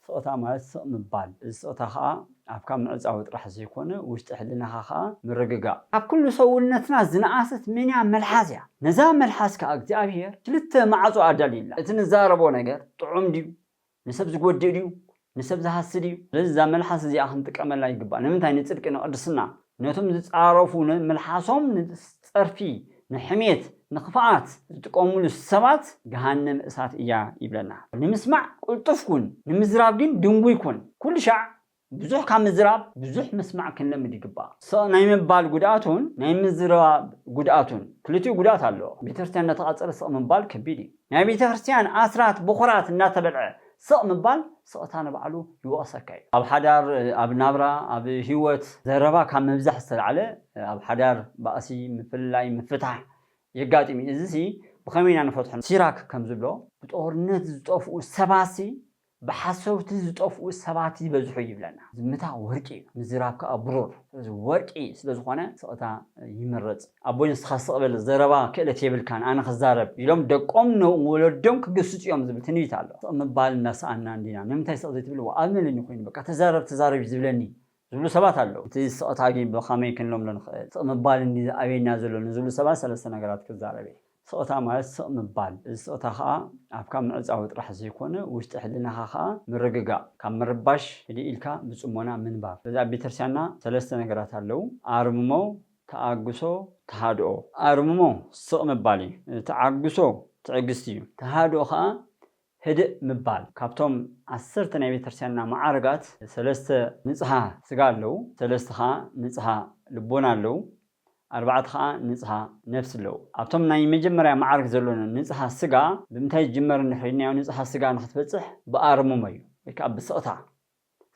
ስቕታ ማለት ስቕ ምባል፣ እዚ ስቕታ ኸኣ ኣፍካ ምዕጻው ጥራሕ ዘይኮነ ውሽጢ ሕልናኻ ኸኣ ምርግጋእ። ኣብ ኩሉ ሰውነትና ዝነኣሰት መንያ መልሓስ እያ። ነዛ መልሓስ ከኣ እግዚኣብሄር ክልተ ማዕጾ ኣዳልዩላ። እቲ ንዛረቦ ነገር ጥዑም ድዩ? ንሰብ ዝጎድእ ድዩ? ንሰብ ዝሃሲ ድዩ? ስለዚ እዛ መልሓስ እዚኣ ክንጥቀመላ ይግባእ። ንምንታይ? ንጽድቂ ንቕድስና። ነቶም ዝጻረፉ ንመልሓሶም ንጸርፊ ንሕሜት ንክፍኣት ዝጥቀምሉ ሰባት ገሃነም እሳት እያ ይብለና። ንምስማዕ ቅልጡፍ ኩን ንምዝራብ ግን ድንጉይ ኩን። ኩልሻዕ ብዙሕ ካብ ምዝራብ ብዙሕ ምስማዕ ክንለምድ ይግባእ። ስቕ ናይ ምባል ጉድኣቱን ናይ ምዝራብ ጉድኣቱን ክልቲኡ ጉድኣት ኣለዎ። ቤተክርስትያን እንዳተቓጸለ ስቕ ምባል ከቢድ እዩ። ናይ ቤተ ክርስትያን ኣስራት ብኩራት እናተበልዐ ስቕ ምባል ስቕታ ንባዕሉ ይወቕሰካ እዩ። ኣብ ሓዳር፣ ኣብ ናብራ፣ ኣብ ህይወት ዘረባ ካብ ምብዛሕ ዝተላዕለ ኣብ ሓዳር ባእሲ፣ ምፍልላይ፣ ምፍታሕ የጋጥም እዩ። እዚሲ ብኸመይ ኢና ንፈትሖ? ሲራክ ከምዝብሎ ብጦርነት ዝጠፍኡ ሰባትሲ ብሓሰውቲ ዝጠፍኡ ሰባት ይበዝሑ ይብለና። ዝምታ ወርቂ እዩ ምዝራብ ከኣ ብሩር ስለዚ ወርቂ ስለ ዝኾነ ስቕታ ይምረጽ። ኣቦይ ንስኻ ስቕ በል ዘረባ ክእለት የብልካን ኣነ ክዛረብ ኢሎም ደቆም ንወለዶም ክግስጹ እዮም ዝብል ትንቢት ኣሎ። ስቕ ምባል እንዳሰኣንና እንዲና ንምንታይ ስቕ ዘይትብል ዋእ ኣበለኒ ኮይኑ በቃ ተዛረብ ተዛረብ እዩ ዝብለኒ ዝብሉ ሰባት ኣለዉ። እቲ ስቕታ ግን ብኸመይ ክንለምዶ ንኽእል? ስቕ ምባል እንድዩ ዝኣብየና ዘሎ ንዝብሉ ሰባት ሰለስተ ነገራት ክዛረብ እየ። ስቕታ ማለት ስቕ ምባል፣ እዚ ስቕታ ኸኣ ኣፍካ ምዕጻዉ ጥራሕ ዘይኮነ ውሽጢ ሕልናኻ ኸኣ ምርግጋእ፣ ካብ ምርባሽ ህድእ ኢልካ ብጽሞና ምንባብ። ስለዚ ኣብ ቤተክርስትያንና ሰለስተ ነገራት ኣለዉ፣ ኣርምሞ፣ ተኣግሶ፣ ተሃድኦ። ኣርምሞ ስቕ ምባል እዩ። ተዓግሶ ትዕግስቲ እዩ። ተሃድኦ ኸኣ ህድእ ምባል ካብቶም ዓሰርተ ናይ ቤተክርስቲያንና መዓርጋት ሰለስተ ንጽሃ ስጋ ኣለዉ፣ ሰለስተ ከኣ ንጽሃ ልቦና ኣለዉ፣ ኣርባዕተ ከኣ ንጽሃ ነፍሲ ኣለዉ። ኣብቶም ናይ መጀመርያ መዓርግ ዘሎ ንጽሃ ስጋ ብምንታይ ዝጅመር እንድሕሪ ኢልናዮ ንጽሃ ስጋ ንኽትበጽሕ ብኣርምሞ እዩ ወይ ከኣ ብስቕታ።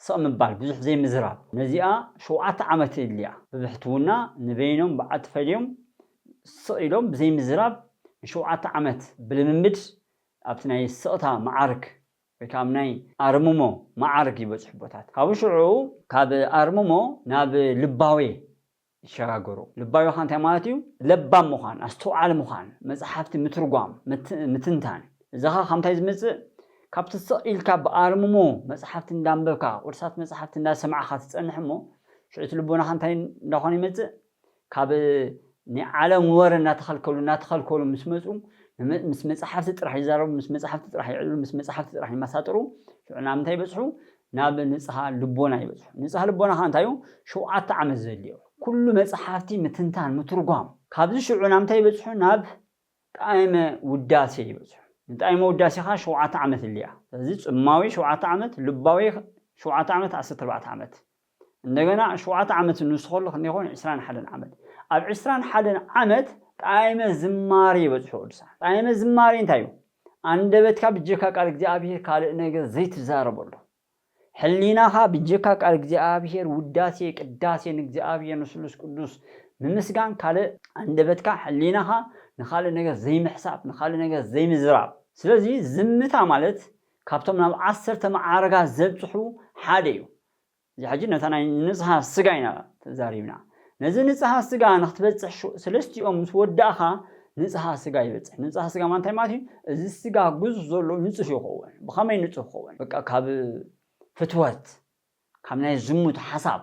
ስቕ ምባል ብዙሕ ዘይምዝራብ ነዚኣ ሸውዓተ ዓመት የድልያ። ብብሕትውና ንበይኖም በዓል ተፈልዮም ስቕ ኢሎም ብዘይምዝራብ ንሸውዓተ ዓመት ብልምምድ ኣብቲ ናይ ስቕታ መዓርግ ወይ ከኣ ኣብ ናይ ኣርምሞ መዓርግ ይበጽሑ ኣቦታት። ካብኡ ሽዑ ካብ ኣርምሞ ናብ ልባዌ ይሸጋገሩ። ልባዊኻ እንታይ ማለት እዩ? ለባም ምዃን፣ ኣስተውዓሊ ምዃን፣ መጽሓፍቲ ምትርጓም፣ ምትንታን። እዚኸ ካብ ምንታይ ዝምጽእ? ካብቲ ስቕ ኢልካ ብኣርምሞ መጽሓፍቲ እንዳንበብካ፣ ቅዱሳት መጽሓፍቲ እንዳሰማዕካ ትጸንሕ እሞ፣ ሽዑ እቲ ልቦናኻ እንታይ እንዳኾነ ይመጽእ? ካብ ናይ ዓለም ወረ እንዳተኸልከሉ እንዳተኸልከሉ ምስ መጹ፣ ምስ መጽሓፍቲ ጥራሕ ይዛረቡ፣ ምስ መጽሓፍቲ ጥራሕ ይዕልሉ፣ ምስ መጽሓፍቲ ጥራሕ ይመሳጥሩ፣ ሽዑ ናብ ምንታይ ይበጽሑ? ናብ ንጽሃ ልቦና ይበጽሑ። ንጽሃ ልቦና ከኣ እንታይ እዩ? ሸውዓተ ዓመት ዘድልዮ። ኩሉ መጽሓፍቲ ምትንታን፣ ምትርጓም። ካብዚ ሽዑ ናብ እንታይ ይበጽሑ? ናብ ጣእመ ውዳሴ ይበጽሑ። ንጣእመ ውዳሴ ከኣ ሸውዓተ ዓመት የድልዮ እያ። ስለዚ ጽማዊ ሸውዓተ ዓመት፣ ልባዊ ሸውዓተ ዓመት፣ ዓሰርተ ኣርባዕተ ዓመት። እንደገና ሸውዓተ ዓመት ንሱ ከሎ ክንደይ ይኸውን? ዕስራን ሓደን ዓመት። ኣብ ዕስራን ሓደን ዓመት ጣእመ ዝማሬ ይበጽሑ ቅዱሳን። ጣእመ ዝማሬ እንታይ እዩ? ኣንደበትካ ብጀካ ቃል እግዚኣብሄር ካልእ ነገር ዘይትዛረበሉ፣ ሕሊናኻ ብጀካ ቃል እግዚኣብሄር ውዳሴ ቅዳሴ ንእግዚኣብሄር ንስሉስ ቅዱስ ምምስጋን ካልእ ኣንደበትካ ሕሊናኻ ንኻልእ ነገር ዘይምሕሳብ ንኻልእ ነገር ዘይምዝራብ። ስለዚ ዝምታ ማለት ካብቶም ናብ ዓሰርተ መዓርጋት ዘብጽሑ ሓደ እዩ። እዚ ሕጂ ነታ ናይ ንጽሃ ስጋ ኢና ተዛሪብና። ነዚ ንጽሃ ስጋ ንክትበጽሕ ሰለስቲኦም ምስ ወዳእካ ንጽሃ ስጋ ይበጽሕ። ንጽሃ ስጋ ማለት እንታይ ማለት እዩ? እዚ ስጋ ግዙፍ ዘሎ ንጹህ ይከውን። ብከመይ ንጹህ ክከውን? በቃ ካብ ፍትወት ካብ ናይ ዝሙት ሓሳብ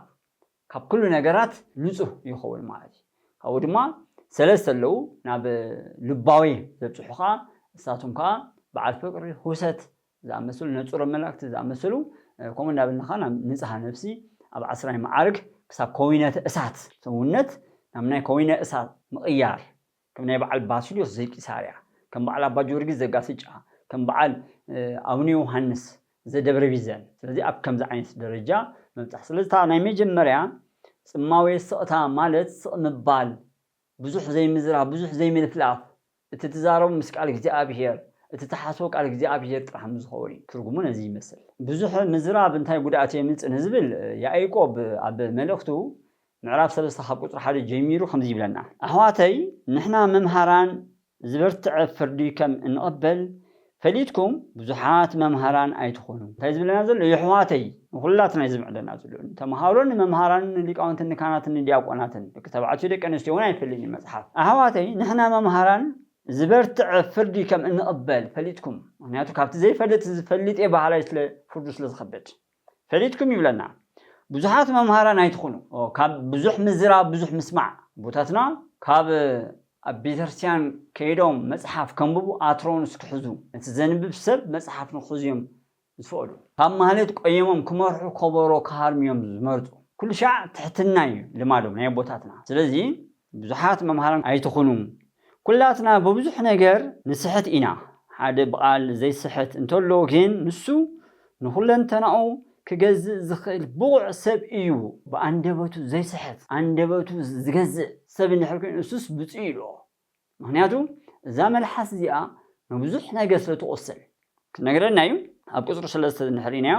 ካብ ኩሉ ነገራት ንጹህ ይከውን ማለት እዩ። ካብኡ ድማ ሰለስተ ኣለዉ ናብ ልባዊ ዘብጽሑ ከኣ ንሳቶም ከኣ በዓል ፍቅሪ፣ ሁሰት፣ ዝኣመሰሉ ነጹረ መላእክት ዝኣመሰሉ ከምኡ እንዳበልና ከኣ ናብ ንጽሃ ነፍሲ ኣብ ዓስራይ መዓርግ ክሳብ ከዊነተ እሳት ሰውነት ናብ ናይ ከዊነ እሳት ምቕያር ከም ናይ በዓል ባስልዮስ ዘቂሳርያ ከም በዓል ኣባ ጊዮርጊስ ዘጋስጫ ከም በዓል ኣቡነ ዮውሃንስ ዘደብረ ቢዘን ስለዚ ኣብ ከምዚ ዓይነት ደረጃ ምብጻሕ ስለዚ እታ ናይ መጀመርያ ጽማዌ ስቕታ ማለት ስቕ ምባል ብዙሕ ዘይምዝራብ ብዙሕ ዘይምልፍላፍ እቲ ትዛረቡ ምስ ቃል እግዚኣብሔር እቲ ትሓስቦ ቃል እግዚኣብሔር ጥራሕ ምስዝኸውን እዩ ትርጉሙ ነዚ ይመስል። ብዙሕ ምዝራብ እንታይ ጉድኣት የምጽእ ንዝብል ያኢቆብ ኣብ መልእኽቱ ምዕራፍ ሰለስተ ካብ ቁጽሪ ሓደ ጀሚሩ ከምዚ ይብለና ኣሕዋተይ ንሕና መምሃራን ዝበርትዐ ፍርዲ ከም እንቕበል ፈሊጥኩም ብዙሓት መምሃራን ኣይትኹኑ እንታይ ዝብለና ዘሎ የሕዋተይ ንኹላትና እዩ ዝምዕደና ዘሎ ንተምሃሮን ንመምሃራንን ንሊቃውንትን ንካህናትን ንዲያቆናትን ደቂ ተባዕትዮ ደቂ ኣንስትዮ ውን ኣይፈልን እዩ መጽሓፍ ኣሕዋተይ ንሕና መምሃራን ዝበርትዐ ፍርዲ ከም እንቕበል ፈሊጥኩም ምኽንያቱ ካብቲ ዘይፈልጥ ዝፈልጥ እየ በሃላይ ስለ ፍርዱ ስለ ዝኸብድ ፈሊጥኩም ይብለና ብዙሓት መምሃራን ኣይትኹኑ ካብ ብዙሕ ምዝራብ ብዙሕ ምስማዕ ኣቦታትና ካብ ኣብ ቤተክርስትያን ከይዶም መጽሓፍ ከንብቡ ኣትሮንስ ክሕዙ ነቲ ዘንብብ ሰብ መጽሓፍ ንክሕዙ እዮም ዝፈቅዱ ካብ ማህሌት ቆይሞም ክመርሑ ኮቦሮ ክሃርሙ እዮም ዝመርጹ ኩልሻዕ ትሕትና እዩ ልማዶም ናይ ኣቦታትና ስለዚ ብዙሓት መምሃራን ኣይትኹኑ ኩላትና ብብዙሕ ነገር ንስሕት ኢና ሓደ ብቓል ዘይስሕት እንተሎ ግን ንሱ ንኹለንተናኡ ክገዝእ ዝኽእል ብቑዕ ሰብ እዩ ብኣንደበቱ ዘይስሕት ኣንደበቱ ዝገዝእ ሰብ እንድሕር ኮይኑ ንሱስ ብጹእ ይብሎ ምኽንያቱ እዛ መልሓስ እዚኣ ንብዙሕ ነገር ስለትቖስል ክነግረና እዩ ኣብ ቁፅሪ ሰለስተ እንድሕሪናዮ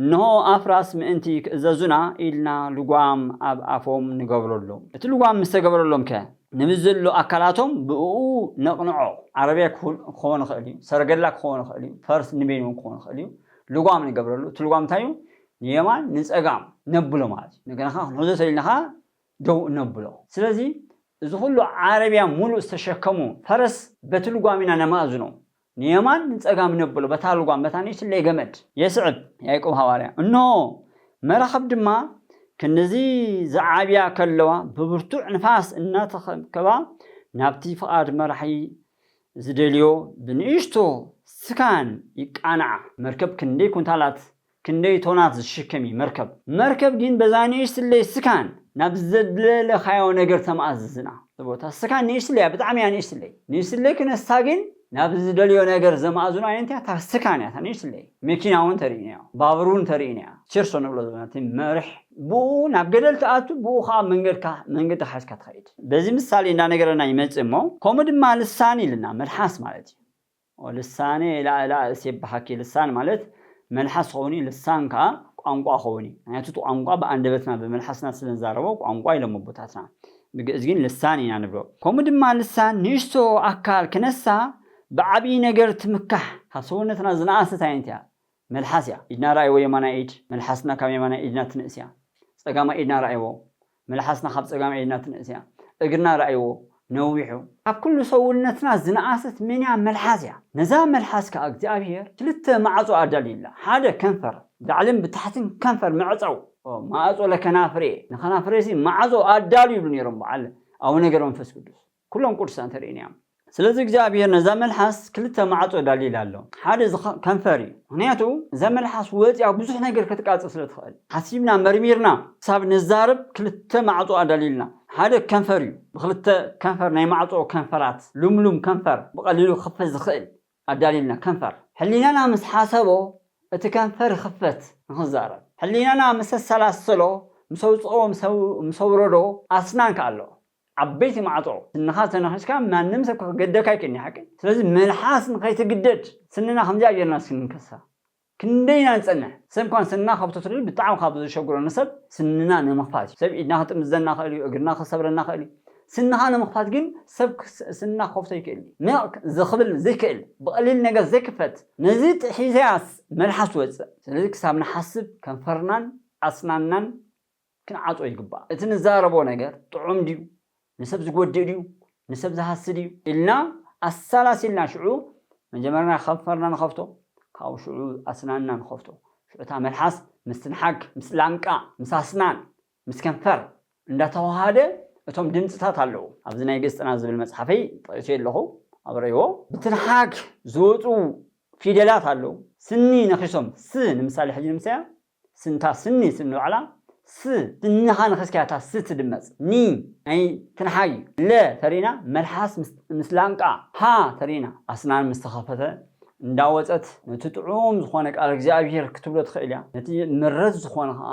እንሆ ኣፍራስ ምእንቲ ክእዘዙና ኢልና ልጓም ኣብ ኣፎም ንገብረሎም እቲ ልጓም ምስ ተገበረሎም ከ ንምስ ዘሎ ኣካላቶም ብእኡ ነቕንዖ ዓረብያ ክኾን ይኽእል እዩ ሰረገላ ክኾን ይኽእል እዩ ፈርስ ንበይኑ እውን ክኾን ይኽእል እዩ ልጓም ንገብረሉ እቲ ልጓም እንታይ እዩ ንየማን ንፀጋም ነብሎ ማለት እዩ እንደገና ከዓ ክንሕዞ ተኢልና ከዓ ደው እነብሎ ስለዚ እዚ ኩሉ ዓረብያ ሙሉእ ዝተሸከሙ ፈረስ በቲ ልጓም ኢና ነማእዝኖም ንየማን ንጸጋም ነብሎ፣ በታ ልጓም፣ በታ ንእሽትለይ ገመድ። የስዕብ፣ ያእቆብ ሃዋርያ። እንሆ፣ መራኽብ ድማ ክንድዚ ዚዓብያ ከለዋ፣ ብብርቱዕ ንፋስ እናተኸብከባ፣ ናብቲ ፍቓድ መራሒ ዚደልዮ ብንእሽቶ ስካን ይቃንዓ። መርከብ ክንደይ ኩንታላት ክንደይ ቶናት ዝሽከም እዩ መርከብ? መርከብ ግን በዛ ንእሽትለይ ስካን ናብ ዘድለለካዮ ነገር ተማእዝዝና። እብ እታ ስካን ንእሽትለይ እያ ብጣዕሚ እያ ንእሽትለይ። ንእሽትለይ ክነሳ ግን ናብ ዝደልዮ ነገር ዘማእዝኖ ኣየንቲ እያ እታ ስካን እያ እታ ንእሽትለይ። መኪና እውን ተርእይኒ እያ ባቡር እውን ተርእይኒ እያ ቸርሶ ንብሎ ዘለና እቲ መርሕ ብኡ ናብ ገደል ትኣቱ ብኡ ከኣ መንገድካ መንገድካ ሒዝካ ትኸይድ። በዚ ምሳሌ እንዳነገረና ይመጽእ እሞ ከምኡ ድማ ልሳን ኢልና መልሓስ ማለት እዩ። እወ ልሳኔ ኢላእላ እሴብሐኪ ልሳን ማለት መልሓስ ኾውንዩ ልሳን ከኣ ቋንቋ ኾውንዩ ምክንያቱ እቲ ቋንቋ ብኣንደበትና ብመልሓስና ስለ ንዛረቦ ቋንቋ ኢሎሞ ኣቦታትና ብግእዝ ግን ልሳን ኢና ንብሎ ከምኡ ድማ ልሳን ንእሽቶ ኣካል ክነሳ ብዓብዪ ነገር ትምካሕ ካብ ሰውነትና ዝነኣሰት ኣይነትያ መልሓስ እያ ኢድና ረኣይዎ የማናይ ኢድ መልሓስና ካብ የማናይ ኢድና ትንእስ እያ ጸጋማይ ኢድና ረኣይዎ መልሓስና ካብ ጸጋማይ ኢድና ትንእስ እያ እግርና ረኣይዎ ነዊሑ ካብ ኩሉ ሰውነትና ዝነኣሰት መን እያ መልሓስ እያ ነዛ መልሓስ ከኣ እግዚኣብሄር ክልተ ማዕጾ ኣዳልዩላ ሓደ ከንፈር ብላዕልን ብታሕትን ከንፈር መዕጸው ማእጾ ለከናፍሬ ንከናፍሬሲ ማዕጾ ኣዳልዩሉ ኔሮም በዓል ኣቡነ ገብረመንፈስ ቅዱስ ኩሎም ቅዱሳን ተርእይኒ እዮም። ስለዚ እግዚኣብሄር ነዛ መልሓስ ክልተ ማዕጾ ዳሊላ ኣሎ ሓደ እዚ ከንፈር እዩ ምክንያቱ እዛ መልሓስ ወጽያ ብዙሕ ነገር ከትቃጽል ስለ ትክእል ሓሲብና መርሚርና ክሳብ ንዛረብ ክልተ ማዕጾ ኣዳሊልና ሓደ ከንፈር እዩ ብክልተ ከንፈር ናይ ማዕጾ ከንፈራት ሉምሉም ከንፈር ብቀሊሉ ክክፈት ዝክእል ኣዳሊልና ከንፈር ሕሊናና ምስ ሓሰቦ እቲ ከንፈር ይክፈት ንክዛረብ ሕሊናና ምስ ኣሰላሰሎ ምስ ኣውጽኦ ምስ ኣውረዶ ኣስናን ከኣ ኣሎ ዓበይቲ ማዕጾ ስንኻ ተናኺስካ ማንም ሰብ ክገደካ ኣይክእልን'ዩ ሓቀይ ስለዚ መልሓስ ንኸይትግደድ ስንና ከምዚኣ ጌርና እስኪ ንንከሳ ክንደይ ኢና ንጸንሕ ሰብ'ኳ ንስንና ካብ ተትሪር ብጣዕሚ ካብ ዘሸግሮ ንሰብ ስንና ንምኽፋት'ዩ ሰብ ኢድና ክጥምዘና ይኽእል'ዩ እግርና ክሰብረና ይኽእል'ዩ ስንኻ ንምኽፋት ግን ሰብ ስንና ክኸፍቶ ኣይክእልን'ዩ ነቕ ዝኽብል ዘይክእል ብቐሊል ነገር ዘይክፈት ነዚ ጥሒሰያስ መልሓስ ትወጽእ ስለዚ ክሳብ ንሓስብ ከንፈርናን ኣስናንናን ክንዓጾ ይግባእ። እቲ ንዛረቦ ነገር ጥዑም ድዩ፣ ንሰብ ዝጎድእ ድዩ፣ ንሰብ ዝሃሲ ድዩ ኢልና ኣሰላሲልና ሽዑ መጀመርና ከንፈርና ንኸፍቶ ካብኡ ሽዑ ኣስናንና ንኸፍቶ። ሽዑ እታ መልሓስ ምስ ትንሓግ ምስ ላንቃ ምስ ኣስናን ምስ ከንፈር እንዳተዋሃደ እቶም ድምጽታት ኣለዉ። ኣብዚ ናይ ግእዝ ጥናት ዝብል መጽሓፈይ ጠቂሰዮ ኣለኹ ኣብ ረይዎ። ብትንሓግ ዝወጹ ፊደላት ኣለዉ። ስኒ ነኺሶም ስ ንምሳሌ ሕጂ ንምሰያ ስንታ ስኒ ስኒ ዋዕላ ስ ስንኻ ንኽስኪያ እታ ስ ትድመጽ ኒ ናይ ትንሓግ እዩ ለ ተሪእና መልሓስ ምስ ምስ ላንቃ ሃ ተሪእና ኣስናን ምስ ተኸፈተ እንዳ ወጸት ነቲ ጥዑም ዝኾነ ቃል እግዚኣብሄር ክትብሎ ትኽእል እያ ነቲ ምረት ዝኾነ ኸኣ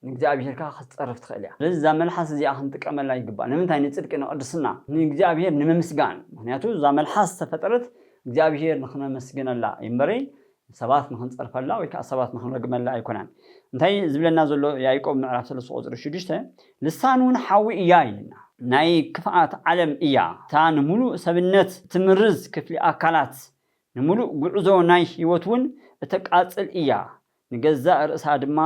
ንእግዚኣብሄር ከኣ ክትጸርፍ ትኽእል እያ ስለዚ እዛ መልሓስ እዚኣ ክንጥቀመላ ይግባእ ንምንታይ ንጽድቂ ንቕድስና ንእግዚኣብሄር ንምምስጋን ምኽንያቱ እዛ መልሓስ ዝተፈጠረት እግዚኣብሄር ንኽነመስግነላ እዩ እምበረይ ንሰባት ንኽንጸርፈላ ወይ ከኣ ሰባት ንኽንረግመላ ኣይኰነን። እንታይ እዩ ዚብለና ዘሎ? ያእቆብ ምዕራፍ ሰለስተ ቍጽሪ ሽዱሽተ፣ ልሳን እውን ሓዊ እያ ይብለና። ናይ ክፍኣት ዓለም እያ፣ እታ ንምሉእ ሰብነት እትምርዝ ክፍሊ ኣካላት፣ ንምሉእ ጕዕዞ ናይ ህይወት እውን እተቃጽል እያ፣ ንገዛእ ርእሳ ድማ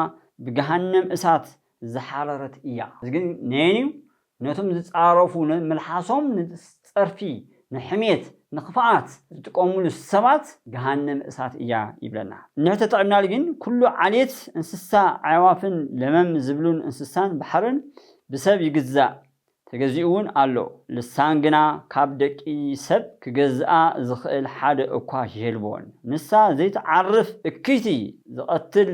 ብገሃነም እሳት ዝሓረረት እያ። እዚ ግን ነየን እዩ ነቶም ዝጻረፉ ንመልሓሶም ንጸርፊ ንሕሜት ንክፍኣት ዝጥቀምሉ ሰባት ገሃነም እሳት እያ ይብለና እንድሕተ ጥዕናል ግን ኩሉ ዓሌት እንስሳ ኣዕዋፍን ለመም ዝብሉን እንስሳን ባሕርን ብሰብ ይግዛእ ተገዚኡ ውን ኣሎ ልሳን ግና ካብ ደቂ ሰብ ክገዝኣ ዝኽእል ሓደ እኳ የልቦን ንሳ ዘይትዓርፍ እክይቲ ዝቐትል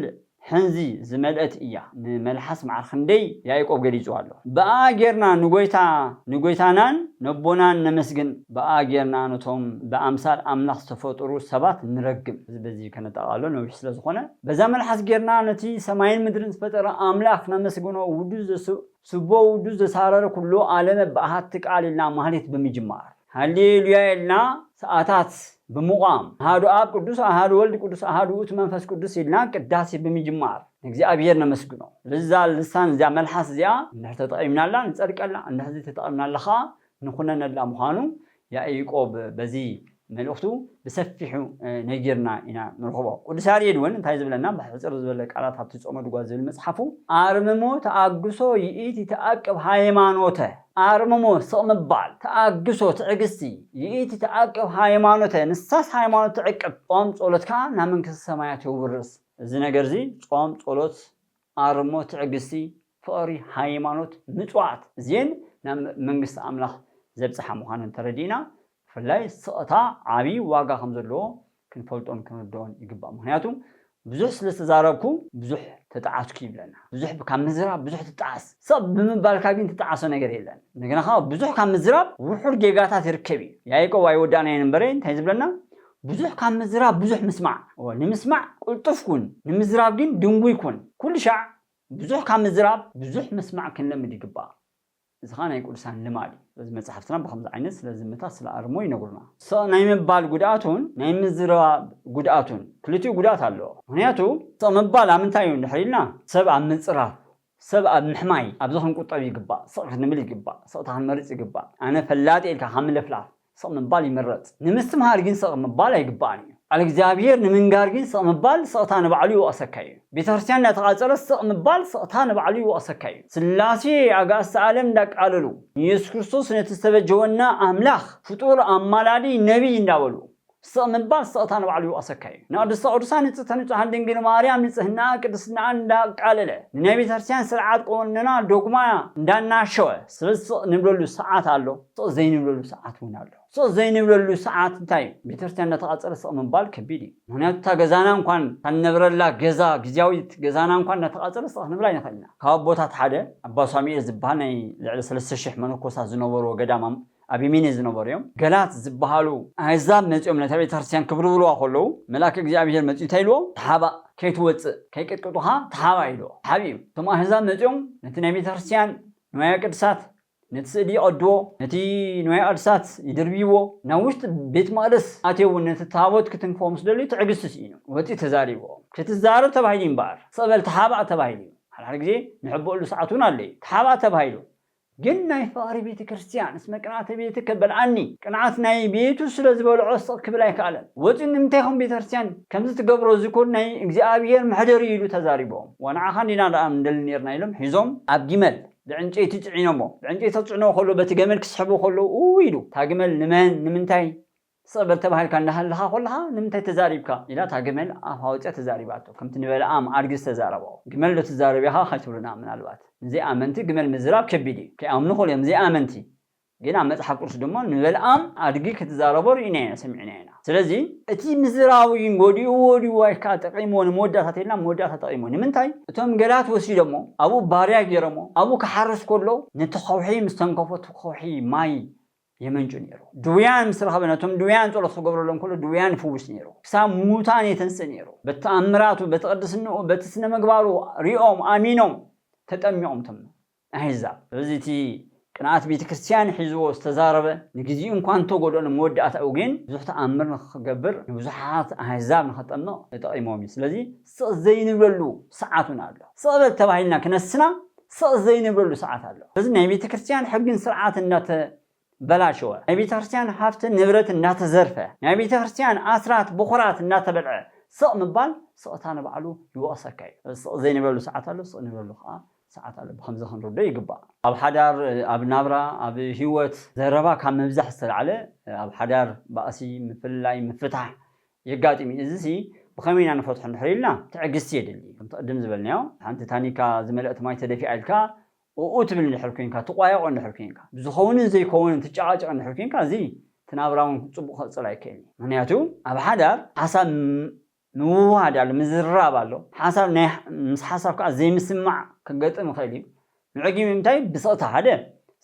ሕንዚ ዝመልእት እያ ንመልሓስ መዓር ክንደይ ያኢቆብ ገሊጽዋ ኣሎ ብኣኣ ጌርና ንጎይታ ንጎይታናን ነቦናን ነመስግን ብኣኣ ጌርና ነቶም ብኣምሳል ኣምላኽ ዝተፈጡሩ ሰባት ንረግም እዚ በዚ ከነጣቃሎ ነዊሕ ስለ ዝኾነ በዛ መልሓስ ጌርና ነቲ ሰማይን ምድርን ዝፈጠረ ኣምላኽ ነመስግኖ ውዱስ ዘሱእ ስቦ ውዱ ዘሳረረ ኩሉ ኣለም ብኣሃቲ ቃል ኢልና ማህሌት ብምጅማር። ሃሌ ሉያ ኢልና ሰኣታት ብምቛም። ኣሃዱ ኣብ ቅዱስ ኣሃዱ ወልድ ቅዱስ ኣሃዱ ውእቱ መንፈስ ቅዱስ ኢልና ቅዳሴ ብምጅማር ንእግዚኣብሔር ነመስግኖ። ስለዚ እዛ ልሳን እዚኣ መልሓስ እዚኣ እንድሕር ተጠቒምናላ ንጸድቀላ እንድሕር ዘይተጠቒምናላ ከኣ ንኹነነላ ምዃኑ ያኢቆብ በዚ መልእኽቱ ብሰፊሑ ነጊርና ኢና ንርኽቦ። ቅዱስ ያሬድ እውን እንታይ ዝብለና ብሕጽር ዝበለ ቃላት ኣብቲ ጾመ ድጓ ዝብል መጽሓፉ ኣርምሞ ተኣግሶ ይእቲ ተኣቅብ ሃይማኖተ ኣርምሞ ስቕ ምባል ተኣግሶ ትዕግስቲ ይእቲ ተኣቅብ ሃይማኖተ ንሳስ ሃይማኖት ትዕቅብ ጾም ጸሎት ከኣ ናብ መንግስተ ሰማያት የውርስ እዚ ነገርዚ ጾም ጸሎት ኣርሞ ትዕግስቲ ፍቕሪ ሃይማኖት ምጽዋት እዜን ናብ መንግስቲ ኣምላኽ ዘብጽሓ ምዃነን ተረዲእና ብፍላይ ስቕታ ዓቢ ዋጋ ከም ዘለዎ ክንፈልጦን ክንርድኦን ይግባእ ምኽንያቱ ብዙሕ ስለ ዝተዛረብኩ ብዙሕ ተጣዓስኩ ይብለና ብዙሕ ካብ ምዝራብ ብዙሕ ትጣዓስ ስቕ ብምባልካ ግን ትጣዓሶ ነገር የለን እንደገና ከኣ ብዙሕ ካብ ምዝራብ ውሑድ ጌጋታት ይርከብ እዩ ያኢቆብ ኣይወዳእናዮን እምበረ እንታይ ዝብለና ብዙሕ ካብ ምዝራብ ብዙሕ ምስማዕ እወ ንምስማዕ ቅልጡፍ ኩን ንምዝራብ ግን ድንጉይ ኩን ኩሉ ሻዕ ብዙሕ ካብ ምዝራብ ብዙሕ ምስማዕ ክንለምድ ይግባእ እዚ ከኣ ናይ ቅዱሳን ልማድ እዩ ስለዚ መጻሕፍትና ብከምዚ ዓይነት ስለ ዝምታ ስለ ኣርሞ ይነግሩና። ስቕ ናይ ምባል ጉድኣቱን ናይ ምዝራብ ጉድኣቱን ክልቲኡ ጉድኣት ኣለዎ ምክንያቱ ስቕ ምባል ኣብ ምንታይ እዩ እንድሕር ኢልና ሰብ ኣብ ምጽራፍ ሰብ ኣብ ምሕማይ ኣብዚ ክንቁጠብ ይግባእ፣ ስቕ ክንብል ይግባእ፣ ስቕታ ክንመርጽ ይግባእ። ኣነ ፈላጥ እየ ኢልካ ካብ ምልፍላፍ ስቕ ምባል ይምረጽ። ንምስትምሃር ግን ስቕ ምባል ኣይግባእን እዩ። ቃል እግዚኣብሄር ንምንጋር ግን ስቕ ምባል ስቕታ ንባዕሉ ይወቕሰካ እዩ። ቤተክርስትያን እንዳተቓጸለት ስቕ ምባል ስቕታ ንባዕሉ ይወቕሰካ እዩ። ስላሴ ኣጋእዝተ ኣለም እንዳቃለሉ ንየሱስ ክርስቶስ ነቲ ዝተበጀወና ኣምላኽ ፍጡር፣ ኣማላዲ፣ ነቢይ እንዳበሉ ስቕ ምባል ስቕታ ንባዕሉ ኣሰካይ እዩ። ንቕድስተ ቅዱሳን ንጽህተ ንጹሃን ድንግል ማርያም ንጽህናኣን ቅድስናኣን እንዳቃለለ፣ ንናይ ቤተክርስትያን ስርዓት ቁንንና ዶግማ እንዳናሸወ ስብ ስቕ ንብለሉ ሰዓት ኣሎ ስቕ ዘይንብለሉ ሰዓት እውን ኣሎ። ስቕ ዘይንብለሉ ሰዓት እንታይ እዩ? ቤተክርስትያን እንዳተቓጸለ ስቕ ምባል ከቢድ እዩ። ምኽንያቱ እታ ገዛና እንኳን እታ ንነብረላ ገዛ ግዝያዊት ገዛና እንኳን እንዳተቓጸለ ስቕ ክንብል ኣይንኽእልን ኢና። ካብ ኣቦታት ሓደ ኣባ ሳሙኤል ዝብሃል ናይ ልዕሊ ሰለስተ ሽሕ መነኮሳት ዝነበርዎ ገዳም ኣብ የሜኔ ዝነበሩ እዮም። ገላት ዝበሃሉ ኣህዛብ መጺኦም ነታ ቤተክርስትያን ክብርብርዋ ከለዉ መልኣከ እግዚኣብሄር መጺኡ እንታይ ኢልዎ ተሓባእ ከይትወጽእ ከይቅጥቅጡኻ ተሓባእ ኢልዎ ተሓቢኡ እቶም ኣህዛብ መጺኦም ነቲ ናይ ቤተክርስትያን ንዋየ ቅድሳት ነቲ ስእሊ ይቐድዎ ነቲ ንዋየ ቅድሳት ይድርብይዎ ናብ ውሽጢ ቤት መቕደስ ኣትዮ እውን ነቲ ታቦት ክትንክፎ ምስ ደልዩ ትዕግስቲ ስኢኑ ወጺኡ ተዛሪብዎም ክትዛረብ ተባሂሉ እዩ እምበኣር ስቕ በል ተሓባእ ተባሂሉ እዩ ሓድሓደ ግዜ ንሕበኣሉ ሰዓት እውን ኣሎ እዩ ተሓባእ ተባሂሉ ግን ናይ ፍቕሪ ቤተ ክርስትያን እስመ ቅንኣተ ቤቱ ከበልዓኒ ቅንኣት ናይ ቤቱ ስለ ዝበልዖ ስቕ ክብል ኣይከኣለን ወጺኡ ንምንታይ ኢኹም ቤተ ክርስትያን ከምዚ ትገብሩ እዚ እኮ ናይ እግዚኣብሄር መሕደር እዩ ኢሉ ተዛሪብዎም ወንዓኻ እንዲና ደኣ ንደሊ ኔርና ኢሎም ሒዞም ኣብ ጊመል ብዕንጨይቲ ጽዒኖሞ ብዕንጨይቲ ክጽዕንዎ ከሎ በቲ ገመል ክስሕብዎ ከለዉ እውይ ኢሉ እታ ግመል ንመን ንምንታይ ትጸበል ተባሂልካ እንዳሃለኻ ኮለኻ ንምንታይ ተዛሪብካ ኢላ እታ ገመል ኣፋ ኣውጺኣ ተዛሪባቶ ከምቲ ንበለኣም ኣድጊ ዝተዛረቦ ግመል ዶ ትዛረብ ኢኻ ከይትብሉና ምናልባት ንዘይኣመንቲ ግመል ምዝራብ ከቢድ እዩ ከይኣምኑ ይኽእሉ እዮም ዘይኣመንቲ ግን ኣብ መጽሓፍ ቅዱስ ድማ ንበለኣም ኣድጊ ክትዛረቦ ርኢናዮ ሰሚዕናዮ ኢና ስለዚ እቲ ምዝራቡ ግን ጎዲእዎ ድዩ ዋይ ከኣ ጠቂምዎ ንመወዳእታ ተይልና ኣብ መወዳእታ ጠቂምዎ ንምንታይ እቶም ገላት ወሲዶሞ ኣብኡ ባርያ ጌሮሞ ኣብኡ ክሓርስ ኮሎ ነቲ ከውሒ ምስ ተንከፎ እቲ ከውሒ ማይ የመንጩ ነይሩ። ድውያን ምስ ረኸበ ነቶም ድውያን ጸሎት ክገብረሎም ከሎ ድውያን ይፍውስ ነይሩ። ክሳብ ሙታን የተንስእ ነይሩ። በቲ ተኣምራቱ በቲ ቅድስንኡ በቲ ስነ ምግባሩ ሪኦም ኣሚኖም ተጠሚቖም እቶም ኣህዛብ። ስለዚ እቲ ቅንኣት ቤተ ክርስቲያን ሒዝዎ ዝተዛረበ ንግዚኡ እንኳ እንተጎድኦ ንመወዳእታኡ ግን ብዙሕ ተኣምር ንኽገብር ንብዙሓት ኣህዛብ ንኸጠምቕ ተጠቒሞም እዩ። ስለዚ ስቕ ዘይንብለሉ ሰዓት እውን ኣሎ። ስቕ በል ተባሂልና ክነስና ስቕ ዘይንብለሉ ሰዓት ኣሎ። በዚ ናይ ቤተ ክርስቲያን ሕግን ስርዓትን እናተበላሸወ፣ ናይ ቤተ ክርስቲያን ሃፍትን ንብረትን እናተዘርፈ፣ ናይ ቤተ ክርስቲያን ኣስራት ብኹራት እናተበልዐ ስቕ ምባል ስቕታ ንባዕሉ ይወቕሰካ እዩ። ስለዚ ስቕ ዘይንብለሉ ሰዓት ኣሎ፣ ስቕ ንብለሉ ከኣ ሰዓት ኣሎ። ብኸምዚ ክንርድኦ ይግባእ። ኣብ ሓዳር፣ ኣብ ናብራ፣ ኣብ ህይወት ዘረባ ካብ ምብዛሕ ዝተላዕለ ኣብ ሓዳር ባእሲ፣ ምፍልላይ፣ ምፍታሕ የጋጥም እዩ። እዚሲ ብኸመይ ኢና ንፈትሖ እንድሕር ኢልና ትዕግስቲ የድሊ። ከምቲ ቅድም ዝበልናዮ ሓንቲ ታኒካ ዝመልአት ማይ ተደፊኣ ኢልካ ኡኡ ትብል እንድሕር ኴንካ፣ ትቋየቖ እንድሕር ኴንካ፣ ብዝኸውንን ዘይከውንን ትጨቓጨቕ እንድሕር ኴንካ እዚ እቲ ናብራ እውን ጽቡቕ ክቕጽል ኣይክእልን እዩ። ምኽንያቱ ኣብ ሓዳር ሓሳብ ምውህሃድ ኣሎ፣ ምዝርራብ ኣሎ፣ ሓሳብ ናይ ምስ ሓሳብ ከኣ ዘይምስምማዕ ከገጥም ይኽእል እዩ። መዕጊቢ ምንታይ ብስቕታ ሓደ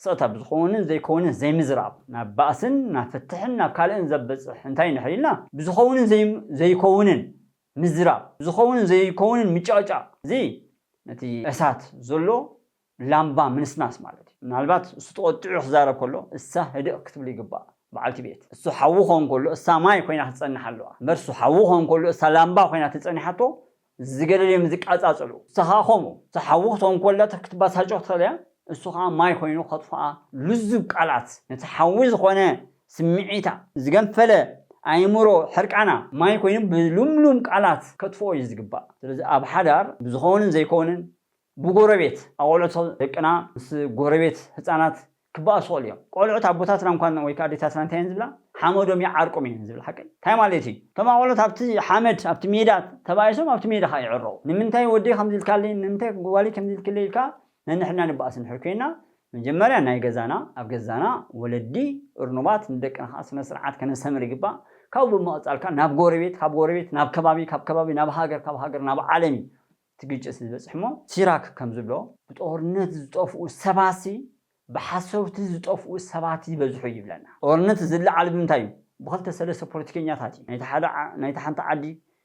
ስቕታ ብዝኾውንን ዘይኮውንን ዘይምዝራብ ናብ ባእስን ናብ ፍትሕን ናብ ካልእን ዘብጽሕ እንታይ እንድሕር ኢልና ብዝኾውንን ዘይኮውንን ምዝራብ ብዝኾውንን ዘይኮውንን ምጭቕጫቕ እዚ ነቲ እሳት ዘሎ ላምባ ምንስናስ ማለት እዩ ምናልባት እሱ ተቖጢዑ ክዛረብ ከሎ እሳ ህድእ ክትብሉ ይግባእ በዓልቲ ቤት እሱ ሓዊ ክኾን ከሎ እሳ ማይ ኮይና ክትጸንሕ ኣለዋ እምበር እሱ ሓዊ ክኾን ከሎ እሳ ላምባ ኮይና ተጸኒሓቶ ዝገደደዮም ዝቃጻጸሉ፣ ዝተኻኸሙ፣ ዝሓዊ ክትኮን ኮላ ክትባሳጮ ክትኽእል እያ፣ እሱ ከኣ ማይ ኮይኑ ከጥፍኣ ልዙብ ቃላት፣ ነቲ ሓዊ ዝኾነ ስምዒታ፣ ዝገንፈለ ኣእምሮ ሕርቃና ማይ ኮይኑ ብልምሉም ቃላት ከጥፍኦ እዩ ዝግባእ። ስለዚ ኣብ ሓዳር ብዝኸውንን ዘይከውንን ብጎረቤት ኣቖልዑቶ ደቅና ምስ ጎረቤት ህጻናት ክባኣሱ ይኽእሉ እዮም ቆልዑት ኣቦታትና እንኳን ወይ ከኣ ኣዴታትና እንታይ እየን ዝብላ ሓመዶም ይዓርቆም እየን ዝብል ሓቀይ እንታይ ማለት እዩ እቶም ኣቖልዑት ኣብቲ ሓመድ ኣብቲ ሜዳ ተባኢሶም ኣብቲ ሜዳ ከኣ ይዕረቁ ንምንታይ ወደይ ከምዚ ኢልካለይ ንምንታይ ጓለይ ከምዚ ኢልክለይ ኢልካ ነንሕድና ንባኣስ እንድሕር ኮይና መጀመርያ ናይ ገዛና ኣብ ገዛና ወለዲ እርኑባት ንደቅና ከኣ ስነ ስርዓት ከነስተምር ይግባእ ካብኡ ብምቕጻል ከኣ ናብ ጎረቤት ካብ ጎረቤት ናብ ከባቢ ካብ ከባቢ ናብ ሃገር ካብ ሃገር ናብ ዓለም እዩ እቲ ግጭት ዝበፅሕሞ ሲራክ ከምዝብሎ ብጦርነት ዝጠፍኡ ሰባትሲ ብሓሰውቲ ዝጠፍኡ ሰባት ይበዝሑ ይብለና። ጦርነት ዝለዓል ብምንታይ እዩ? ብክልተ ሰለስተ ፖለቲከኛታት እዩ። ናይታ ሓንቲ ዓዲ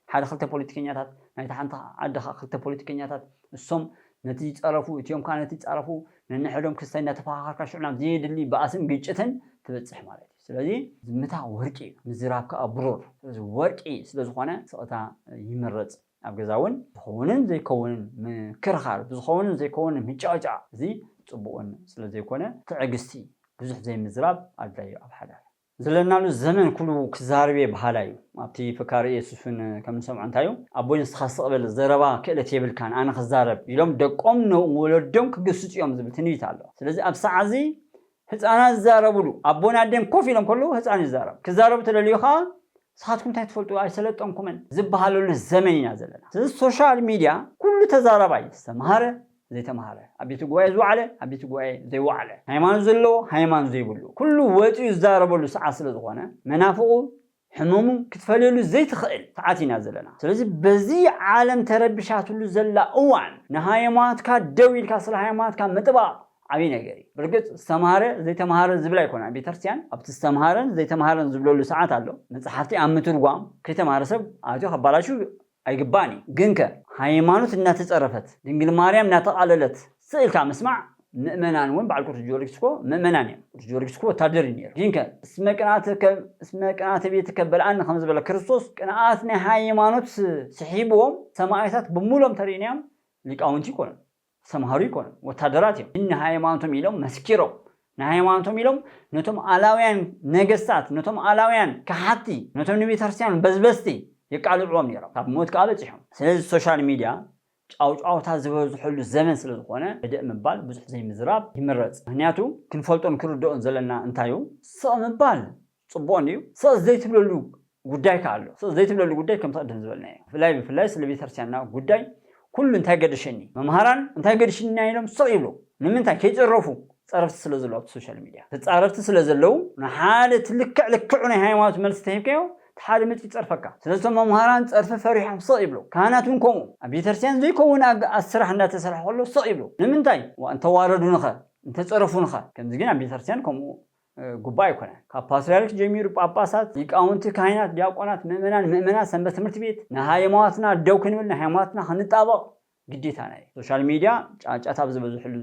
ሓደ ክልተ ፖለቲከኛታት፣ ናይታ ሓንቲ ዓዲ ከዓ ክልተ ፖለቲከኛታት፣ እሶም ነቲ ይፀረፉ እቲኦም ከዓ ነቲ ይፃረፉ፣ ነንሕዶም ክስታይ እናተፈኻኸርካ ሽዑ ናብ ዘየድሊ ባእስን ግጭትን ትበፅሕ ማለት እዩ። ስለዚ ዝምታ ወርቂ እዩ፣ ምዝራብ ከዓ ብሩር። ስለዚ ወርቂ ስለዝኾነ ስቕታ ይምረፅ። ኣብ ገዛ እውን ዝኸውንን ዘይከውንን ምክርኻር፣ ብዝኸውንን ዘይከውንን ምጭቕጫቕ እዚ ጽቡቕን ስለ ዘይኮነ ትዕግስቲ፣ ብዙሕ ዘይምዝራብ ኣድላይ እዩ ኣብ ሓዳር። ዘለናሉ ዘመን ኩሉ ክዛረብ'የ በሃላይ እዩ። ኣብቲ ፈካሪ ኢየሱስ እውን ከም ንሰምዖ እንታይ እዩ፣ ኣቦይ ንስኻ ስቕ በል ዘረባ ክእለት የብልካን ኣነ ክዛረብ ኢሎም ደቆም ንወለዶም ክግስጹ እዮም ዝብል ትንቢት ኣሎ። ስለዚ ኣብ ሰዓት እዚ ህጻናት ዝዛረቡሉ፣ ኣቦን ኣደን ኮፍ ኢሎም ከለዉ ህጻን ይዛረብ፣ ክዛረቡ ተደልዩ ከኣ ንስኻትኩም እንታይ ትፈልጡ ኣይሰለጠንኩምን ዝበሃለሉ ዘመን ኢና ዘለና። ስለዚ ሶሻል ሚድያ ኩሉ ተዛራባይ ዝተማህረ ዘይተማህረ፣ ኣብ ቤተ ጉባኤ ዝወዓለ ኣብ ቤተ ጉባኤ ዘይወዓለ፣ ሃይማኖት ዘለዎ ሃይማኖት ዘይብሉ ኩሉ ወጺኡ ዝዛረበሉ ሰዓት ስለዝኾነ መናፍቑ ሕመሙ ክትፈልየሉ ዘይትኽእል ሰዓት ኢና ዘለና ስለዚ በዚ ዓለም ተረቢሻትሉ ዘላ እዋን ንሃየማትካ ደው ኢልካ ስለ ሃየማትካ ምጥባቅ ዓቢ ነገር እዩ ብርግጽ ዝተማህረ ዘይተማሃረ ዝብል ኣይኮነን ኣብ ቤተርስትያን ኣብቲ ዝተማሃረን ዘይተማሃረን ዝብለሉ ሰዓት ኣሎ መጽሓፍቲ ኣብ ምትርጓም ከይተማሃረ ሰብ ኣትዩ ከባላሹ ኣይግባእን እዩ ግንከ ሃይማኖት እናተፀረፈት ድንግል ማርያም እናተቃለለት ስቅ ኢልካ ምስማዕ ምእመናን እውን በዓል ቅዱስ ጊዮርጊስ እኮ ምእመናን እዮም ቅዱስ ጊዮርጊስ እኮ ወታደር እዩ ነይሩ ግንከ እስመ ቅንኣተ ከም እስመ ቅንኣተ ቤትከ በልዓኒ ከምዝበለ ክርስቶስ ቅንኣት ናይ ሃይማኖት ስሒብዎም ሰማእታት ብሙሉኦም ተሪእናዮም ሊቃውንቲ ይኮኑ ዝተምሃሩ ኣይኮኑን ወታደራት እዮም ግን ንሃይማኖቶም ኢሎም መስኪሮም ንሃይማኖቶም ኢሎም ነቶም ኣላውያን ነገስታት ነቶም ኣላውያን ከሓድቲ ነቶም ንቤተክርስትያን በዝበዝቲ የቃልዕዎም ኔሮም ካብ ሞት ከኣ በጺሖም ስለዚ ሶሻል ሚድያ ጫውጫውታ ዝበዝሐሉ ዘመን ስለ ዝኾነ ህድእ ምባል ብዙሕ ዘይምዝራብ ይምረጽ ምክንያቱ ክንፈልጦን ክንርድኦን ዘለና እንታዩ ስቕ ምባል ጽቡቕ እንድዩ ስቕ ዘይትብለሉ ጉዳይ ከኣ ኣሎ ስቕ ዘይትብለሉ ጉዳይ ከምቲ ቅድም ዝበልናዮ ብፍላይ ብፍላይ ስለ ቤተክርስትያንና ጉዳይ ኩሉ እንታይ ገደሸኒ መምሃራን እንታይ ገድሽኒ ኢሎም ስቕ ይብሉ ንምንታይ ከይጽረፉ ጸረፍቲ ስለ ዘለዉ ኣብቲ ሶሻል ሚድያ ተጻረፍቲ ስለ ዘለዉ ንሓደ እቲ ልክዕ ልክዑ ናይ ሃይማኖት መልሲ ተሂብካዮ እቲ ሓደ መጺኡ ይጸርፈካ ስለዚ እቶም መምሃራን ጸርፊ ፈሪሖም ስቕ ይብሉ ካህናት እውን ከምኡ ኣብ ቤተክርስትያን ዘይከውን ኣገኣዝ ስራሕ እንዳተሰርሐ ከሎ ስቕ ይብሉ ንምንታይ ዋእ እንተዋረዱንኸ እንተጸረፉንኸ ከምዚ ግን ኣብ ቤተክርስትያን ከምኡ ጉባእ ኣይኮነን። ካብ ፓትርያርክ ጀሚሩ ጳጳሳት፣ ሊቃውንቲ፣ ካህናት፣ ዲያቆናት፣ ምእመናን፣ ምእመናት፣ ሰንበት ትምህርቲ ቤት፣ ንሃይማኖትና ደው ክንብል ንሃይማኖትና ክንጣበቕ ግዴታና እዩ። ሶሻል ሚድያ ጫጫታ ኣብ ዝበዝሕሉ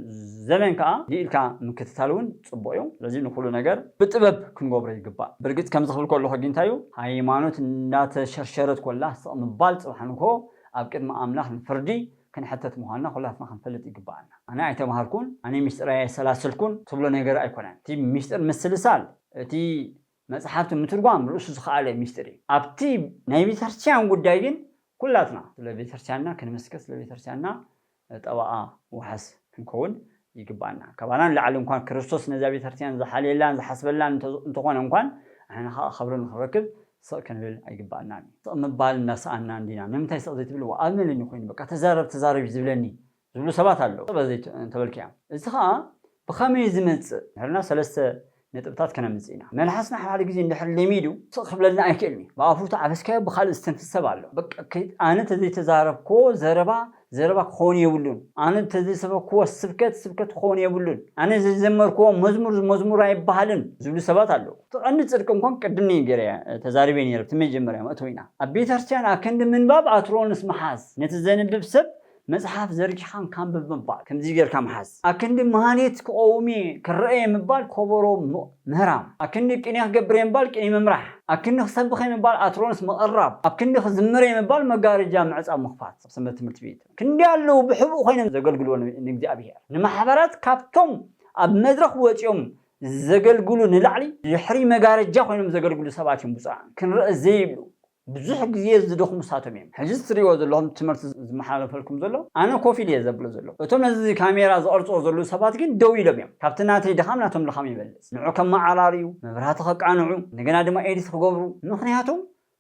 ዘመን ከኣ ልይ ኢልካ ምክትታል እውን ጽቡቕ እዩ። ስለዚ ንኹሉ ነገር ብጥበብ ክንገብሮ ይግባእ። ብርግጽ ከምዚ ክብል ከለኹ ግን እንታይ እዩ ሃይማኖት እንዳተሸርሸረት ኮላ ስቕ ምባል ጽባሕ ንግሆ ኣብ ቅድሚ ኣምላኽ ንፍርዲ ክንሕተት ምዃንና ኩላትና ክንፈልጥ ይግብኣና። ኣነ ኣይተማሃርኩን፣ ኣነ ምስጢር ኣየሰላሰልኩን ትብሎ ነገር ኣይኮነን። እቲ ምስጢር ምስልሳል፣ እቲ መጽሓፍቲ ምትርጓም ርእሱ ዝኸኣለ ምስጢር እዩ። ኣብቲ ናይ ቤተክርስትያን ጉዳይ ግን ኩላትና ስለ ቤተክርስትያንና ክንምስክር፣ ስለ ቤተክርስትያንና ጠበቓ ዋሕስ ክንከውን ይግብኣና። ካባና ንላዕሊ እንኳን ክርስቶስ ነዛ ቤተክርስትያን ዝሓልየላን ዝሓስበላን እንተኾነ እንኳን ንሕና ኸኣ ኸብሪ ንኽረክብ ስቕ ክንብል ኣይግብኣናን እዩ። ስቕ ምባል እናሰኣንና እንዲና። ንምንታይ ስቕ ዘይትብልዎ? ኣብ መለኒ ኮይኑ በቃ ተዛረብ ተዛረብ እዩ ዝብለኒ ዝብሉ ሰባት ኣለዉ። ስቕ በል ዘይትብሉ እንተበልካዮም እዚ ኸኣ ብኸመይ ዝመጽእ? እንድሕርና ሰለስተ ነጥብታት ከነምጽእ ኢና። መልሓስና ሓደ ሓደ ግዜ እንድሕር ለሚዱ ስቕ ክብለልና ኣይክእልን እዩ። ብኣፉ ተዓበስካዮ ብኻልእ ዝተንፍስ ሰብ ኣሎ። በቃ ኣነ ተዘይተዛረብክዎ ዘረባ ዘረባ ክኸውን የብሉን፣ ኣነ ተዘይሰበክዎ ስብከት ስብከት ክኸውን የብሉን፣ ኣነ ዘይዘመርክዎ መዝሙር መዝሙር ኣይበሃልን ዝብሉ ሰባት ኣለዉ። እቲ ቀንዲ ጽድቂ እንኳን ቅድም ነይ ገይረ ተዛሪበ ነይረ ኣብቲ መጀመርያ መእተዊና። ኣብ ቤተክርስትያን ኣክንዲ ምንባብ ኣትሮንስ ምሓዝ ነቲ ዘንብብ ሰብ መጽሓፍ ዘርጊሕካ እንካንብብ ምባል ከምዚ ጌርካ ምሓዝ ኣክንዲ መሃኒት ክቐውም'የ ክረኣ'የ ምባል ኮቦሮ ምህራም ኣክንዲ ቅኔ ክገብር'የ ምባል ቅኔ ምምራሕ ኣክንዲ ክሰብኽ'የ ምባል ኣትሮንስ ምቕራብ ኣክንዲ ክዝምር'የ ምባል መጋረጃ ምዕጻው ምኽፋት ኣብ ሰንበት ትምህርቲ ቤት ክንደይ ኣለዉ ብሕቡእ ኮይኖም ዘገልግልዎ ንእግዚኣብሄር ንማሕበራት ካብቶም ኣብ መድረኽ ወጺኦም ዘገልግሉ ንላዕሊ ድሕሪ መጋረጃ ኮይኖም ዘገልግሉ ሰባት'ዮም ብጹኣን ክንረኣ ዘይብሉ ብዙሕ ግዜ ዝደኽሙ ንሳቶም ኢዮም። ሕጂ ትርእይዎ ዘለኹም ትምህርቲ ዝመሓላለፈልኩም ዘሎ ኣነ ኮፍ ኢለ ኢየ ዘብሎ ዘለኹ። እቶም ነዚ ካሜራ ዝቐርጽዎ ዘለዉ ሰባት ግን ደው ኢሎም ኢዮም። ካብቲ ናተይ ድኻም ናቶም ድኻም ይበልጽ። ንዑ ከመዓራርዩ፣ መብራህቲ ከቃንዑ፣ እንደገና ድማ ኤዲት ክገብሩ። ምኽንያቱ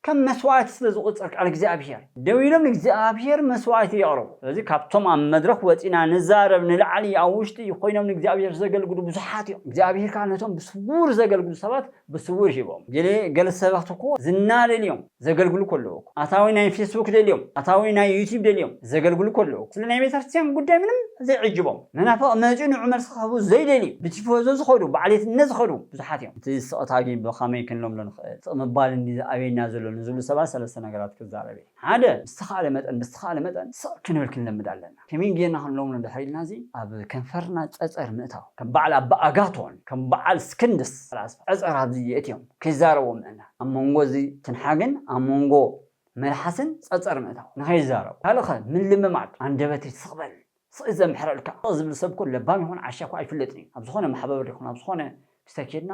ከም መስዋእቲ ስለ ዝቑጸር ቃል እግዚኣብሄር። ደው ኢሎም ንእግዚኣብሄር መስዋእቲ የቕርቡ። ስለዚ ካብቶም ኣብ መድረኽ ወጺእና ንዛረብ ንላዕሊ ኣብ ውሽጢ ኮይኖም ንእግዚኣብሄር ዘገልግሉ ብዙሓት ኢዮም። እግዚኣብሄር ከኣ ነቶም ብስዉር ዘገልግሉ ሰባት ብስውር ሂቦም ገለ ገለ ሰባት እኮ ዝና ደልዮም ዘገልግሉ ከለዉ እኮ ኣታዊ ናይ ፌስቡክ ደልዮም ኣታዊ ናይ ዩቲብ ደልዮም ዘገልግሉ ከለዉ እኮ ስለ ናይ ቤተክርስትያን ጉዳይ ምንም ዘይዕጅቦም መናፍቅ መጺኡ ንዑ መልሲ ክህቡ ዘይደልዩ ብቲፎዞ ዝከዱ ብዓሌትነት ዝከዱ ብዙሓት እዮም እቲ ስቅታ ግን ብከመይ ክንለምዶ ንክእል ስቅ ምባል እንድዩ ዝኣብየና ዘሎ ንዝብሉ ሰባት ሰለስተ ነገራት ክዛረብ እየ ሓደ ብዝተካእለ መጠን ብዝተካእለ መጠን ስቅ ክንብል ክንለምድ ኣለና ከመይ ጌርና ክንለምኖ እንድሕር ኢልና እዚ ኣብ ከንፈርና ጸጸር ምእታው ከም በዓል ኣባ ኣጋቶን ከም በዓል ስክንድስ ፈላስፋ ጸጸር ኣብዚ የእትዮም ከይዛረቡ ምእላም ኣብ መንጎ እዚ ትንሓግን ኣብ መንጎ መልሓስን ጸጸር ምእታው ንኸይዛረቡ ካልእ ከ ምልምማድ ኣንደበተይ ስቕ በል ስቕ እዩ ዘምሕረልካ ስቕ ዝብል ሰብ እኮ ለባም ይኹን ዓሻ እኮ ኣይፍለጥን እዩ ኣብ ዝኾነ ማሕበበር ይኹን ኣብ ዝኾነ ስተ ኬድና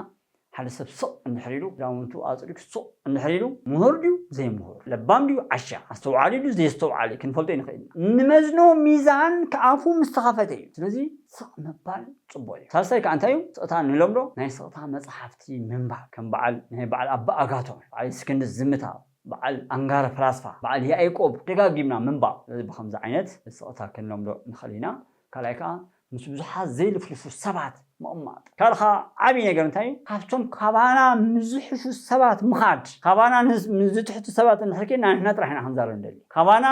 ሓደ ሰብ ስቕ እንድሕር ኢሉ፣ ክዳውንቱ ኣጽሪጉ ስቕ እንድሕር ኢሉ፣ ምሁር ድዩ ዘይምሁር፣ ለባም ድዩ ዓሻ፣ ኣስተውዓሊ ድዩ ዘየስተውዓሊ ክንፈልጦ ኣይንኽእልን ኢና። እንመዝኖ ሚዛን ኣፉ ምስ ተኸፈተ እዩ። ስለዚ ስቕ ምባል ጽቡቕ እዩ። ሳልሳይ ከኣ እንታይ እዩ? ስቕታ ንለምዶ ናይ ስቕታ መጽሓፍቲ ምንባብ። ከም በዓል ናይ በዓል ኣባ ኣጋቶን፣ በዓል እስክንድስ ዝምታ፣ በዓል ኣንጋረ ፈላስፋ፣ በዓል ያኤቆብ ደጋጊምና ምንባብ። ስለዚ ብኸምዚ ዓይነት ስቕታ ክንለምዶ ንኽእል ኢና። ካልኣይ ከኣ ምስ ብዙሓት ዘይልፍልፉ ሰባት ምቕማጥ። ካልእ ከኣ ዓቢ ነገር እንታይ እዩ ካብቶም ካባና ምስ ዝሕሹ ሰባት ምኻድ። ካባና ምስ ዝትሕቱ ሰባት እንድሕር ኬድና ንሕና ጥራሕ ኢና ክንዛረብ ንደሊ። ካባና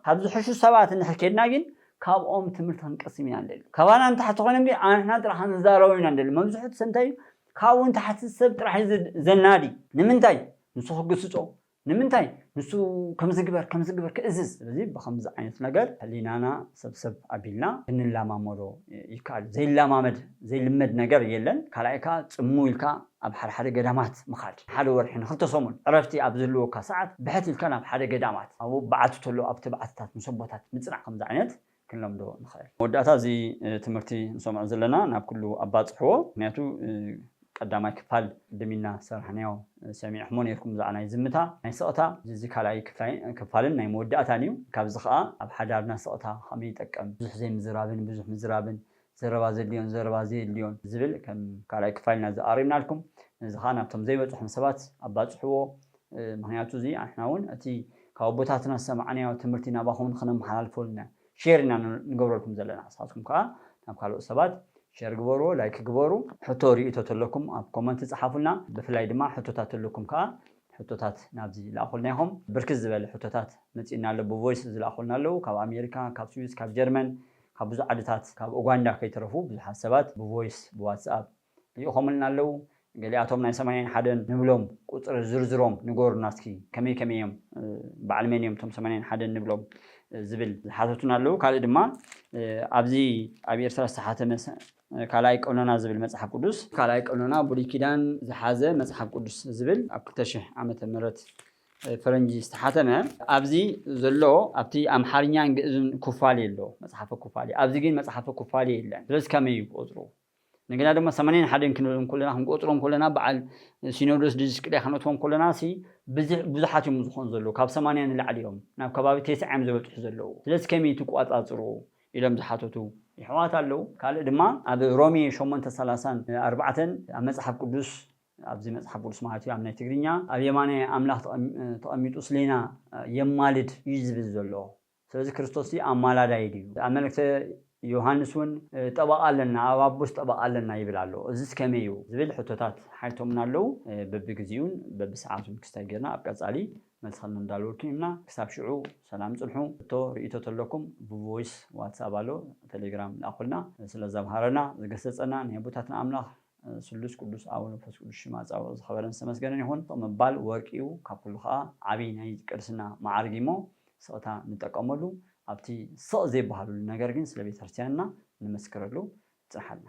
ካብ ዝሕሹ ሰባት እንድሕር ኬድና ግን ካብኦም ትምህርቲ ክንቀስም ኢና ንደሊ። ካባና ንታሕቲ ኮይኖም ግን ኣንሕና ጥራሕ ክንዛረቦም ኢና ንደሊ። መብዝሕቱ ሰብ እንታይ እዩ ካብኡ ንታሕቲ ሰብ ጥራሕ እዩ ዘናዲ። ንምንታይ ንሱ ክግስጾ ንምንታይ ንሱ ከምዚ ግበር ከምዚ ግበር ክእዝዝ? ስለዚ ብኸምዚ ዓይነት ነገር ሕሊናና ሰብሰብ ኣቢልና ክንለማመዶ ይከኣል እዩ። ዘይለማመድ ዘይልመድ ነገር የለን። ካልኣይ ከኣ ጽምው ኢልካ ኣብ ሓደ ሓደ ገዳማት ምኻድ። ንሓደ ወርሒ ንኽልተ ሰሙን ዕረፍቲ ኣብ ዝህልወካ ሰዓት ብሕት ኢልካ ናብ ሓደ ገዳማት ኣብኡ በዓቲ ተሎ ኣብቲ በዓትታት ምስ ኣቦታት ምጽናሕ ከምዚ ዓይነት ክንለምዶ ንኸእል። መወዳእታ እዚ ትምህርቲ ንሰምዖ ዘለና ናብ ኩሉ ኣባጽሕዎ ምክንያቱ ቀዳማይ ክፋል ቅድም ኢልና ዝሰራሕናዮ ሰሚዕክሞ ኔርኩም ብዛዕባ ናይ ዝምታ ናይ ስቕታ እዚ ካልኣይ ክፋልን ናይ መወዳእታን እዩ ካብዚ ከኣ ኣብ ሓዳርና ስቕታ ከመይ ይጠቅም ብዙሕ ዘይምዝራብን ብዙሕ ምዝራብን ዘረባ ዘድልዮን ዘረባ ዘየድልዮን ዝብል ከም ካልኣይ ክፋል ኢና እዚ ኣቕሪብናልኩም። ነዚ ከኣ ናብቶም ዘይበጽሖም ሰባት ኣባጽሕዎ። ምኽንያቱ እዚ ንሕና እውን እቲ ካብ ኣቦታትና ዝሰማዕናዮ ትምህርቲ ናባኹም ንኽነመሓላልፎ ኢልና ሼር ኢና ንገብረልኩም ዘለና። ንስኻትኩም ከኣ ናብ ካልኦት ሰባት ሼር ግበርዎ፣ ላይክ ግበሩ። ሕቶ ርእይቶ ተለኩም ኣብ ኮመንት ጸሓፉልና። ብፍላይ ድማ ሕቶታት ተለኩም ከኣ ሕቶታት ናብዚ ልኣኹልና ኢኹም። ብርክት ዝበለ ሕቶታት መጺኡና ኣሎ ብቮይስ ዝልኣኹልና ኣለዉ ካብ ኣሜሪካ፣ ካብ ስዊስ፣ ካብ ጀርመን፣ ካብ ብዙሕ ዓድታት ካብ ኡጋንዳ ከይተረፉ ብዙሓት ሰባት ብቮይስ ብዋትስኣፕ ሊኢኾምልና ኣለው ገሊኣቶም ናይ ሰማንያን ሓደን ንብሎም ቁጽሪ ዝርዝሮም ንገሩና እስኪ ከመይ ከመይ እዮም በዓል መን እዮም እቶም ሰማንያን ሓደን ንብሎም ዝብል ዝሓተቱና ኣለው ካልእ ድማ ኣብዚ ኣብ ኤርትራ ዝተሓተመ ካልኣይ ቀኖና ዝብል መጽሓፍ ቅዱስ ካልኣይ ቀኖና ብሉይ ኪዳን ዝሓዘ መጽሓፍ ቅዱስ ዝብል ኣብ ክልተ ሽሕ ዓመተ ምህረት ፈረንጂ ዝተሓተመ ኣብዚ ዘሎ ኣብቲ ኣምሓርኛን ግእዝን ኩፋሌ ኣሎ መጽሓፈ ኩፋሌ ኣብዚ ግን መጽሓፈ ኩፋሌ የለን ስለዚ ከመይ እዩ ቁጽሩ እንደገና ድማ ሰማንያን ሓደን ክንብሎም ኮለና ክንቆጽሮም ኮለና በዓል ሲኖዶስ ድስቅልያ ክንእትዎም ኮለና ሲ ብዙሓት እዮም ዝኾኑ ዘለዉ ካብ ሰማንያ ንላዕሊ እዮም ናብ ከባቢ ቴስዓ እዮም ዝበጽሑ ዘለዉ ስለዚ ከመይ ትቋጻጽሩ ኢሎም ዝሓተቱ ይሕዋት ኣለዉ ካልእ ድማ ኣብ ሮሜ ሸሞንተ ሰላሳን ኣርባዕተን ኣብ መጽሓፍ ቅዱስ ኣብዚ መጽሓፍ ቅዱስ ማለት እዩ ኣብ ናይ ትግርኛ ኣብ የማናይ ኣምላኽ ተቐሚጡ ስሌና የማልድ እዩ ዝብል ዘሎ ስለዚ ክርስቶስሲ ኣማላዳይ ድዩ ኣብ መልእክተ ዮሃንስ እውን ጠበቓ ኣለና ኣብ ኣቦስ ጠበቓ ኣለና ይብል ኣሎ እዝስ ከመይ እዩ ዝብል ሕቶታት ሓይቶምና ኣለዉ በብግዜኡን በብሰዓቱን ክስታይ ጌርና ኣብ ቀጻሊ መልሲ ከነዳልወልኩም ኢና ክሳብ ሽዑ ሰላም ጽንሑ ሕቶ ርእይቶ ተለኩም ብቮይስ ዋትስኣብ ኣሎ ተሌግራም ልኣኹልና ስለዛ ኣምሃረና ዝገሰጸና ናይ ኣቦታትና ኣምላኽ ስሉስ ቅዱስ ኣቡነ መንፈስ ቅዱስ ሽም ኣጻውዕኡ ዝኸበረን ዝተመስገነን ይኹን። ስቕ ምባል ወርቂ እዩ፣ ካብ ኩሉ ኸኣ ዓቢይ ናይ ቅድስና መዓርግ እዩ እሞ ስቕታ ንጠቀመሉ፣ ኣብቲ ስቕ ዘይበሃለሉ ነገር ግን ስለ ቤተክርስትያንና ንመስክረሉ። ጽንሓልና።